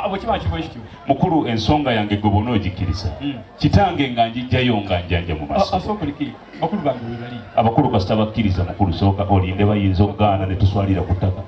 bwekiba nti bwekityo mukulu ensonga yange gwe bona ogikkiriza hmm. kitange nga njijjayo nga njanja mu masoabakulu kasita bakkiriza mukulu sooka olinde bayinza okugaana ne tuswalira ku ttaka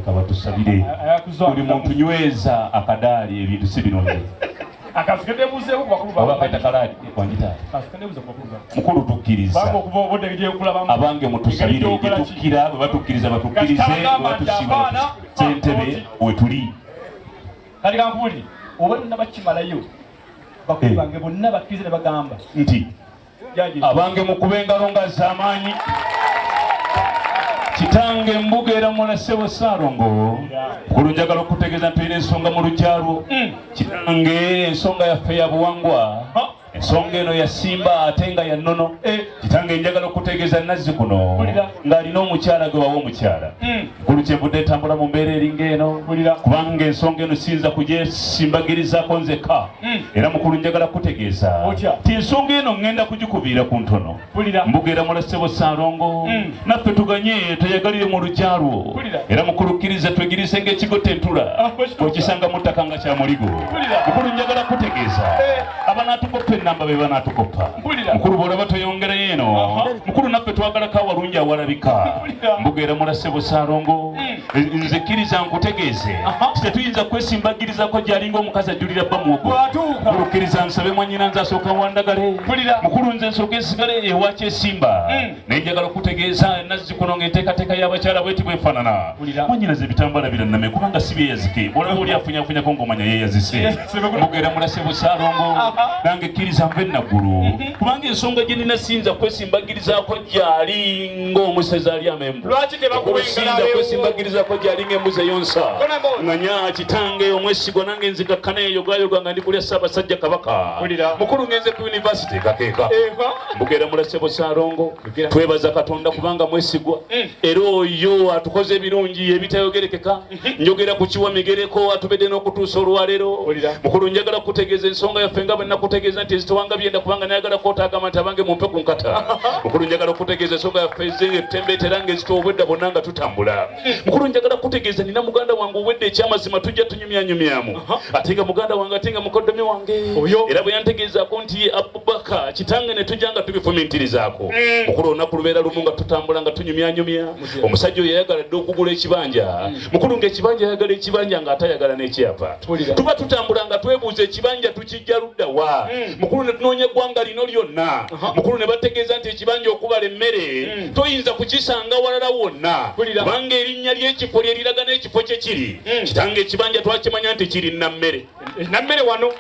kabatusabire buli muntu nyweza akadaali ebintu si binonye mukulu tukkiriza abange mutusabire gyetukkira bwe batukkiriza batukkirize bwebatusima sentebe wetuli kati kankubuli oba nabakimalayo bakulu eh. bange bonna bakkiriza ne bagamba nti abange mukuba engalo nga zamaanyi kitange mbuga era mwana ssebo ssaalongo kulu njagala okutegeeza nti olina ensonga mu lukyalwo hmm. kitange ensonga yaffe ya buwangwa ensonga eno yasimba ate nga ya nnono eh. kitange njagala okutegeeza nazzi kuno ng'alina omukyala gwe bawa omukyala hmm. nkulu kyenvudde etambula mu mbeera eringa eno kubanga ensonga eno siyinza kugyesimbagirizaako nzekka hmm. era mukulu njagala kutegeeza ti ensonga eno ŋŋenda kugikubiira ku ntono mbugeera mulasebo saalongo hmm. naffe tuganye tweyagalire mu lugya lwo era mukulukkiriza twegiriise ng'ekigo tentula ah, okisanga mu ttaka nga kya muligo mukulu njagala kutegeeza eh. abanaatukoppa ennamba be banaatukoppa mukulu bw'olaba toyongerayo eno mukulu naffe twagalako awalungi awalabika mbugeera mulase busaalongo hmm. nze kkiriza nkutegeeze tetuyinza kwesimbagirizako gyalinga omukazi ajjulira bba muwogo mulukkiriza nsabe mwanyina nze asooka wandagale mukulu nze nsooka esigale ewakyesimba hmm. naye njagala okutegeeza nazzikuno ng'enteekateeka y'abakyala bweti bwefaanana mwanyinaza ebitambala biranname kubanga si byeyazike olaba oli afunyafunyako ng'omanya yeeyazise eh, mugera mulase busalongo nange kkiriza nva enaggulu mhm. kubanga ensonga gye nina siyinza kwesimbagirizako gyali ng'omusezi ali amembusinza kwesimbagirizako gyali ng'embuzi eyonsa nganya kitange omwesigwa nange nzikakkana eyogayoga nga ndi kulya ssaabasajja kabaka mukulu ngenze ku yunivasite kakeeka mbugera mulasebo salongo twebaza katonda kubanga mwesigwa mm. era oyo atukoze ebirungi ebitayogerekeka mm-hmm. njogera ku kiwa migereko atubedde n'okutuusa olwaleero mukulu njagala kukutegeeza ensonga yaffe nga bwenakutegeeza nti ezitewanga byenda kubanga nayagala kotagamba nti abange mumpe ku nkata mukulu njagala okutegeeza ensonga yaffe ezenga ettembeetera nga ezita obwedda bonna nga tutambula mukulu njagala kutegeeza nina muganda wange owedde ekyamazima tujja tunyumyanyumyamu ate nga muganda wange ate nga mukoddomi wange era bwe yantegeezaako nti ye abubaka kitange ne tujja nga tubifumintirizaako mm. mukulu olunaku lubeera lumu nga tutambula nga tunyumyanyumya omusajja oyo yayagala dde okugula ekibanja mm. mukulu ngaekibanja ayagala ekibanja nga atayagala n'ekyapa tuba tutambula nga twebuuza ekibanja tuki kijja ludda wa mm. mukulu ne tunoonya eggwanga lino lyonna mukulu ne bategeeza nti ekibanja okubala emmere mm. toyinza kukisanga walala wonna kubanga erinnya ly'ekifo lye liraga n'ekifo kye kiri mm. kitanga ekibanja twakimanya nti kiri nammere eh, nammere wano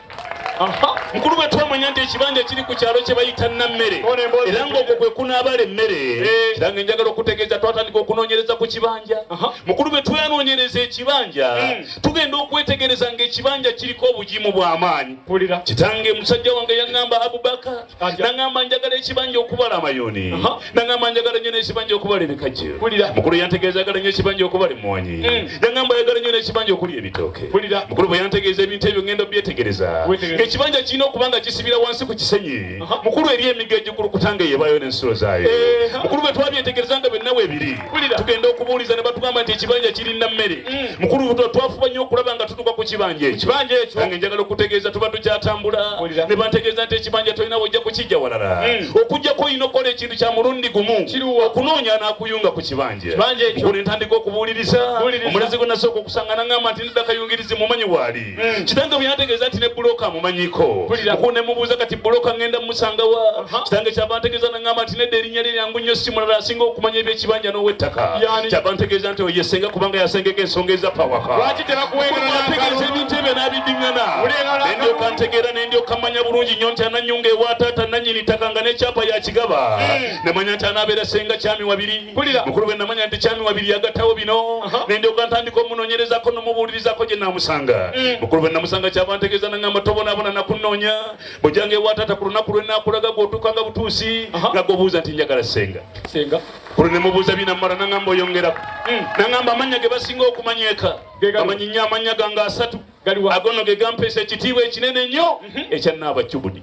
mukulu bwe twamanya nti ekibanja kiri ku kyalo kye bayita nammere era ngaokwo kwe kunaabala emmere eh. kiranga enjagala okutegeeza twatandika okunoonyereza ku kibanja mukulu bwe twanoonyereza ekibanja tugenda okwetegereza ng'ekibanja kiriko obugimu bw'amaanyi kitange musajja wange yaŋŋamba abubaka naŋŋamba njagala ekibanja okubala amayoni naŋŋamba njagala nnyo n'ekibanja okubala ebikajjo mukulu yantegeeza agala nnyo ekibanja okubala emmwanyi mm. yaŋŋamba ayagala nnyo n'ekibanja okuli ebitooke mukulu bwe yantegeeza ebintu ebyo ŋŋenda byetegereza ng'ekibanja kirina okuba nga kisibira wansi ku kisenyi mukulu eri emiga egikulu kutange yebayo n'ensulo zaayo mukulu bwe twabyetegereza nga byennawe ebiri Mpulira tugenda okubuuliza ne batugamba nti ekibanja kirina mmere. Mm. Mukulu Buto twafuba nnyo okulaba nga tutuuka ku kibanja ekyo. Kibanja ekyo nange njagala okutegeeza tuba tukyatambula ne bantegeeza nti ekibanja tolina wojja kukijja walala. Mm. Okujjako olina okukola ekintu kya mulundi gumu okunoonya anaakuyunga ku kibanja. Mukulu ntandika okubuuliriza omulazi gwe nasooka okusanga nangamba nti nedda kayungirizi mumanyi waali. Mm. kitange bwe yantegeeza nti ne buloka amumanyiko oku ne mubuuza kati buloka ŋŋenda mumusanga wa kitange kyava ntegeeza naŋŋamba nti nedda erinnya lye lyangu nnyo si mulala asinga okumanya ebyekibanja n'ow'ettaka kyava ntegeeza nti oyo yesenga kubanga yasengeka ensonga ezappa wakategeeza ebintu ebyo n'abiddiŋŋana ne ndyoka ntegeera ne ndyoka mmanya bulungi nnyo nti ananyunga ewa taata nannyini ttaka nga n'ekyapa yakigaba mm. ne manya nti anaabeera senga kyami wabiri mpulira mukulu bwe namanya nti kyami wabiri yagatawo bino nendyoka ntandika omunonyerezako nomubuulirizako gye namusanga mm. mukulu bwe namusanga kyava ntegeeza nangamba tobonaabona nakunoonya bwejanga ewataata ku lunaku lwe nakulaga gwotuuka nga butuusi nga gobuuza nti njagala senga senga kulo ne mubuuza binamala nangamba oyongerako mm. nangamba amannya ge basinga okumanyeka amanyi nnyo amannya gange asatu agono ge gampeesa ekitiibwa ekinene nnyo mhm. ekyannaaba cubudi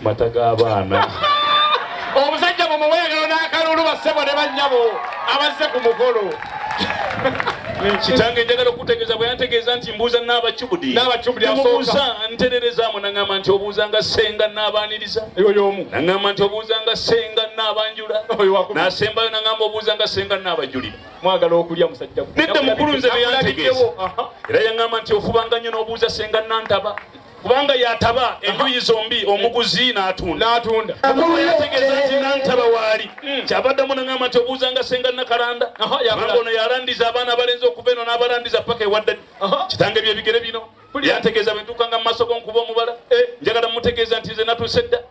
mata g'abaana omusajja mumuweerero n'akalulu bassebo ne bannyabo abazze ku mukolo kitange njagala okutegeeza bwe yantegeeza nti mbuuza n'abacubudinabacubudimubuuza ntererezamu naŋamba nti obuuza nga senga n'abaaniriza oyomu naŋamba nti obuuza nga senga n'abanjula nasembayo naŋamba obuuza nga senga n'abajulira mwagala okulya musajja nedda mukulu nze beyantegeeza era yaŋamba nti ofubanga nnyo n'obuuza senga nantaba kubanga yataba enjuyi zombi omuguzi n'atunda mukulu yategeeza nti nantaba waali hmm. kyabaddamu nangamba nti obuuzanga senga nakalanda kubanga ono yalandiza abaana abalenzi okuva eno n'abalandiza paka ewaddadi kitange byebigere bino yategeeza bwentuukanga mu maaso go nkuba omubala eh. njagala mutegeeza nti nze natuuse dda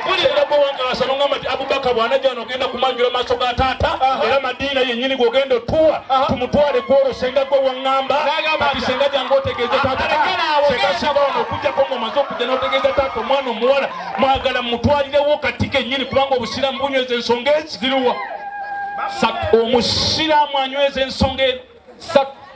Mpulira gwe wankalasa nongamba nti Abubaka bwanajja wano ogenda kumanjula maaso ga taata era Madiina yennyini gwogenda otuwa tumutwale gwolwo senga gwe wangamba kati senga jange otegeeze taata senga singa wano okujjako nga omaze okujja n'otegeeza taata omwana omuwala mwagala mutwalirewo kati kennyini kubanga obusiraamu bunyweza ensonga ezi ziruwa omusiraamu anyweza ensonga eno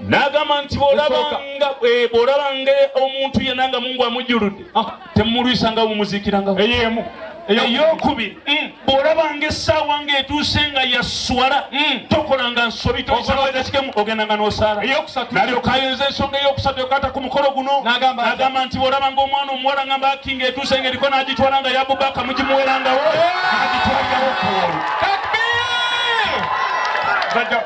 n'agamba nti bw'olabanga eh, bw'olabanga omuntu yenna nga mungu amujjuludde ah. temumulwisanga mumuziikiranga eyemu eyokubiri mm. bw'olabanga essaawa ng'etuuse nga yaswala mm. tokolanga nsobi toisaakikemu ogendanga n'osaala nalyoka ayinza ensonga eyokusatu yokaata ku mukolo guno n'agamba nti bw'olabanga omwana omuwala nga mbaaki ng'etuuse ng'eriko n'agitwala nga yabubaaka mugimuwerangawo agitwalirawo okuwolu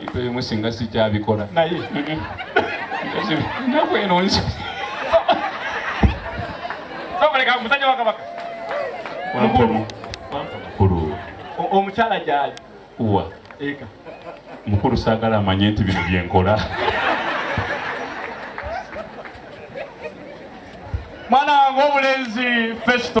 ebintu ebimu singa sikyabikola naye enaku eno nzioleka musajja wakabaka mukulu omukyala gyali wa eka mukulu saagala amanye nti bino byenkola mwana wange obulenzi festo